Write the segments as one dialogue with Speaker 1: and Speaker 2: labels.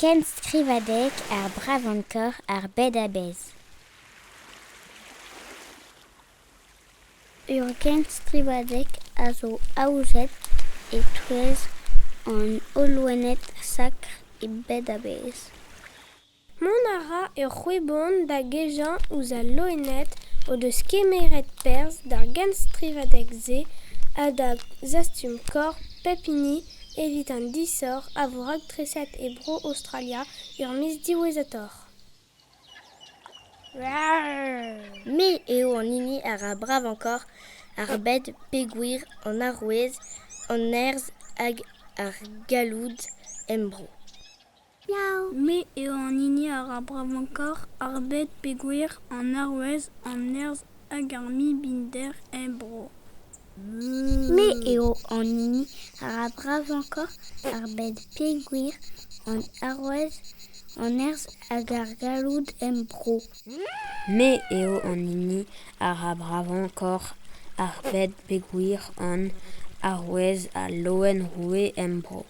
Speaker 1: Kenstrivadeg ar bravankor ar bed-a-bezh. Ur genstrivadeg a zo aozet e-touez an Hollouenned sakr e bed-a-bezh. Mont
Speaker 2: a ra ur c'hwebon da gejañ ouzh al loened o deus kemeret perzh d'ar genstrivadeg-se ha da zastum korf pep hini evit an disoc'h a vo raktreset e bro Aostralia er miz diwezhatoc'h.
Speaker 3: Me eo an hini a ra bravañ-korf ar bed pegwir, an arouez, an nerzh hag ar galloud em bro.
Speaker 4: Me eo an hini a ra bravañ-kaoc'h ar bed peogwir an arouez, an nerzh hag ar mibinder er bro.
Speaker 1: Me eo an hini a ra bravañ-kaoc'h ar bed peogwir an arouez, an nerzh hag ar galloud er bro. Me
Speaker 5: eo an hini a ra bravañ-kaoc'h ar bed peogwir an arouez, al loen roue er bro.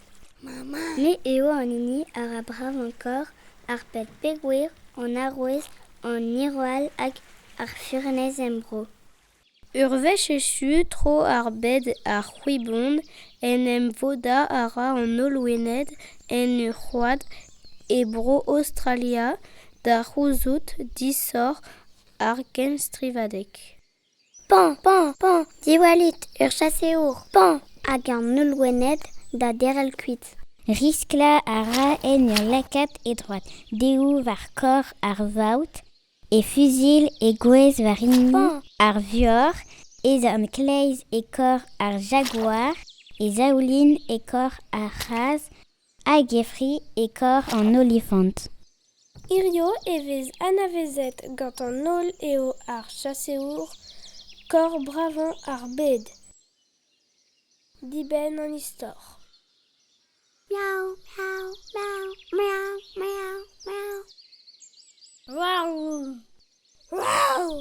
Speaker 5: Me
Speaker 1: eo an hini a ra bravañ-korr ar pet pegwir, an arouez, an hirwall hag ar furnez em bro. Ur
Speaker 2: wech echu tro ar bed ar c'hwibon en em vodañ a ra an Olwened en ur c'hoad e bro Aostralia da c'houzout disoc'h ar genstrivadeg. Pañ,
Speaker 1: pañ, pañ, diwallit ur chaseour pañ hag an holl loened da derc'hel kuit. Risklañ a ra en ur lakaat e droad dehoù war korr ar vaout, e fuzil e gwez war hini ar vioc'h, e zorn kleiz e korr ar jaguar, e zaoulin e korr ar c'hazh A-gevri e korr an olifant. Hiziv
Speaker 2: e vez anavezet gant an holl eo ar chaseour korr bravañ ar bed. Dibenn an istor.
Speaker 1: Miaou, miaou, miaou, miaou, miaou, miaou. Waouh!
Speaker 3: Waouh!